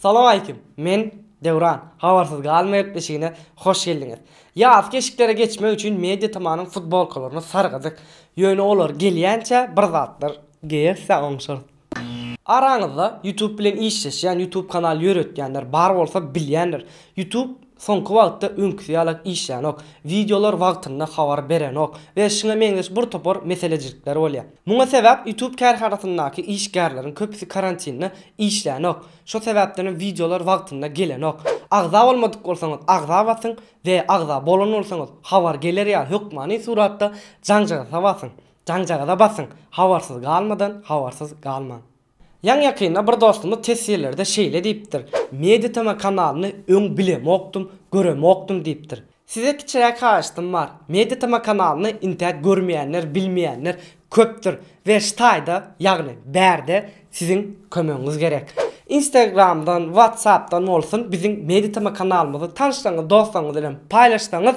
Salam aleýkum. Men Döwran. Habarsyz galmaýak deşigine hoş geldiňiz. Ýaz keşiklere geçmek üçin Media Tamanyň futbolkalaryny sargadyk. Ýöne olar gelýänçä bir zatlar geýersä oňşarys. Araňyzda YouTube bilen işleşýän, YouTube kanal ýöretýänler bar bolsa bilýändir. YouTube soňky wagtda öňküsi ýaly işlänok, wideolar wagtynda habar berenok we şuňa meňzeş bir topar meselejilikler bolýar. Muňa sebäp YouTube kärhanasyndaky işgärleriň köpüsi karantinde işlänok, şo sebäpdenem wideolar wagtynda gelenok. Agza bolmadyk bolsaňyz agza basyň we agza bolan bolsaňyz habar geler ýaly hökmany suratda jaňjagasa basyň. Jaňjagaza basyň, habarsyz galmadan habarsyz galmaň. Ýaňy ýakynda bir dostumyz teswirlerde şeýle diýipdir, Media TM kanalyny öň bilemokdym, göremokdym diýipdir. Size kiçiräk haýyştym bar, Media TM kanalyny intäk görmeýänler, bilmeýänler köpdür we şu taýda, ýagny bärde siziň kömegiňiz gerek. Instagramdan, WhatsAppdan bolsun biziň Media TM kanalymyzy tanyşlaryňyz, dostlaryňyz bilen paýlaşsaňyz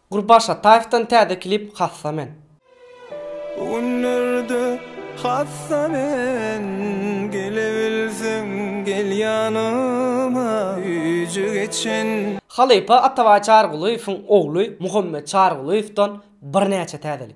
Gurban Şataýewden täze klip Hassa men. Bu günlerde hassa men Gelebilseň gel ýanyma Güýji geçen. Halypa Atabaý Çarygulyýewiň ogly Muhammet Çarygulyýewden birnäçe täzelik.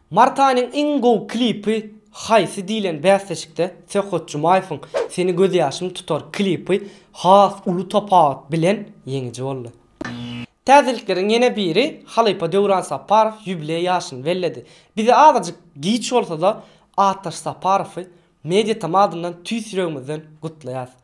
Mart aýynyň iň gowy klipi haýsy diýlen bäsleşikde Söhbet Jumaýewiň Seni gözýaşym tutar klipi has uly tapawut bilen ýeňiji boldy. Täzelikleriň ýene biri, halypa Döwran Saparow ýubileý ýaşyny belledi. Bize azajyk giç bolsa-da, Ataş Saparowy Mediatom adyndan tüýs ýüregimizden gutlaýarys.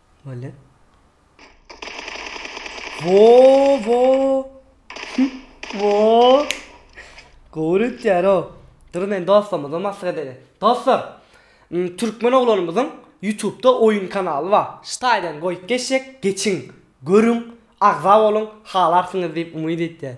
Böyle. Wo wo. Wo. Gowuryt yaro. Dur men dostumyza mask edeli. Dostlar. Türkmen oglanymyzyň YouTube'da oyun kanaly bar. Ştaýdan goýup geçjek, geçiň, görüň, agza boluň, halarsyňyz diýip umyt etýän.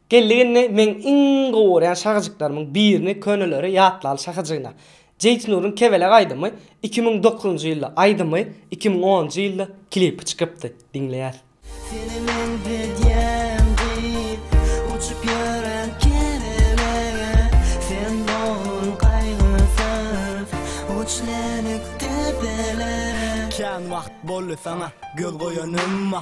Geldiginde meň iň gowy görýän şahyjyklarymyň birini köneleri ýatlaly şahyjygyna. Jeýtnuryň Kebeleg aýdymy iki müň dokuzynjy ýylda aýdymy iki müň onunjy ýylda klipi çykypdy diňleýäs. Seni men gidýän diýip uçup ýören kebelege sen dogdun gaýgysyz uçlenik depelere. Kän wagt boldy saňa göz goýanymma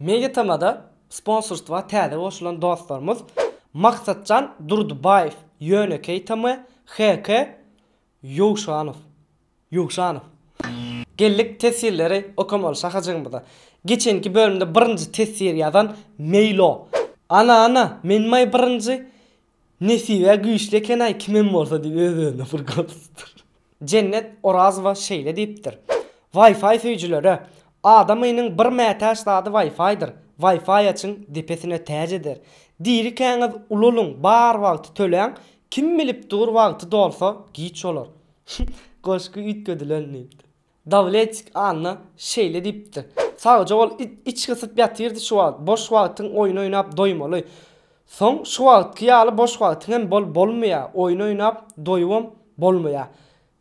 MediaTm-da sponsorstwa täze goşulan dostlarymyz Maksatjan Durdybaýew, Ýönekeý TM, HK Ýowşanow, Ýowşanow. Geldik tesirleri okamaly şahajygymyza. Geçenki bölümde birinji tesir ýazan Meýlo. Ana-ana, men maý birinji, Nesibe güýçli ekenaý kimem bolsa diýip öz özüne bir gürlüpdir. Jennet Orazowa şeýle diýipdir, Wi-Fi söýjülere, Adam ynyň bir mätäç zady Wi-Fi-dir, Wi-Fi açyň depesine täç eder. Dirikäňiz ulalyň bar wagty töläň, kim bilip dur wagty dolsa giç bolar. Goşgy üýtgedilen diýipdir. Dawletik Anna şeýle diýipdi. Sagja bol, içi gysyp ýatyrdy şu wagt. Boş wagtyň oýun oýnap doýmaly. Soň şu wagtky ýaly boş wagtyň hem bol bolmaýa, oýun oýnap doýubam bolmaýa.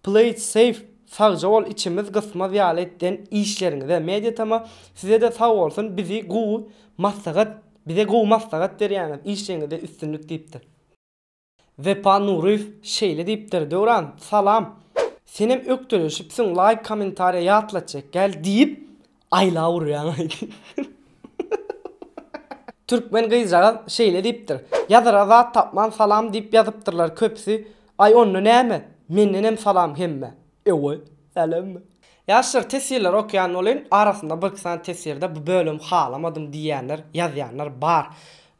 Play it safe Sagja bol içimiz gysmaz ýaly etden işleriňize Mediatama sizede sag bolsun bizi gowy maslahat bize gowy maslahat berýäňiz işleňizde üstünlik diýipdir. Wepa Nuryýew şeýle diýipdir, Döwran, salam! Senem ökdeleşipsiň, laýk kommentariýa ýatlat çekgäl diýip, aýlap urýaňaý. Türkmen gyzjagaz şeýle diýipdir, Ýazara zat tapman salam diýip ýazypdyrlar köpüsi, aý onda näme, mendenem salam hemmä! Ewe, sälemmi? Ýaşlar tesirleri okýan bolyn, arasynda birki sany tesirde bu bölümi halamadym diýýänler, ýazýanlar bar.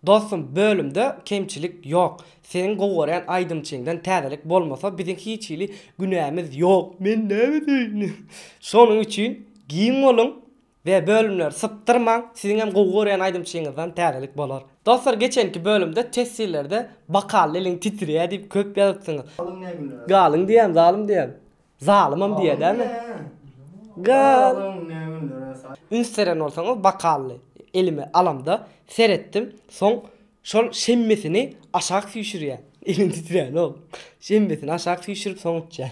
Dostum, bölümde kemçilik ýok. Seniň gowy görýän aýdymçyňdan täzelik bolmasa biziň hiç hili günämiz ýok. Men näme diýin? Şonuň üçin giň boluň, We bölümleri sypdyrmaň siziň hem gowy görýän aýdymçyňyzdan täzelik bolar. Dostlar geçenki bölümde teswirlerde bakal eliň titrýär diýip köp ýazypsyňyz. Galyň ne günde. Galyň diýýän zalym diýýän. Zalymam diýýä dämi. Galyň ne günlere sa. Üns beren bolsaňyz bakaly elime alamda seretdim soň şol şemmesini aşak süýşürýän. Elim titränok. Şemmesini aşak süýşürip soň içýän.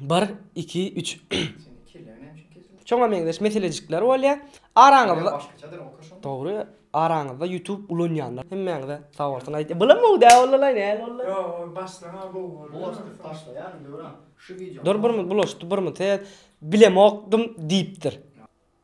Bir, iki, üç. Şoňa meňzeş meselejikler bolýar. Araňyzda Başgaçadyr okaşan. Dogry. Araňyzda YouTube ulanýanlar hemmäňize sag bolsun aýdýan. Bulam bu dä ollalar näl ollar. Yo, başlaňa bu boldy. Bulaşdyk başlaýar indi öran. Şu wideo. Dur birimiz bulaşdy, birimiz he bilemokdym diýipdir.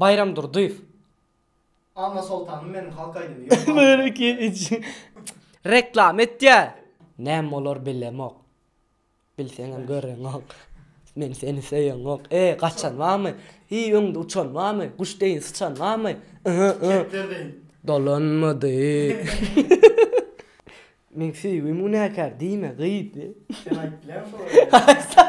Baýram Durdyýew. Anna Soltanym meniň halk aýdymy ýok bar Meniň iki iç reklama etýär. Näme bolar bilemok. Bilseňem göreňok. Men seni söýeňok. E, gaçan barmy? Hi, öňde uçan barmy? Guş deýin syçan barmy? Kepder deýin. Dolanmady. Meň söýgim günäkär diýme gyz. Sen aýt lan şo.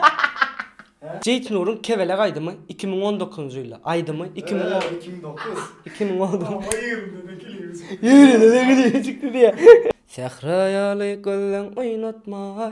Jeýt Nuryň Kebelek aýdymy iki müň on dokuzynjy ýylda aýdymy iki müň on iki müň dokuz iki müň on dokuz Ýa ýerinde-de klibi çykdy Ýerinde-de klibi çykdy diýýä. Sähra ýaly gözleň oýnatmaý.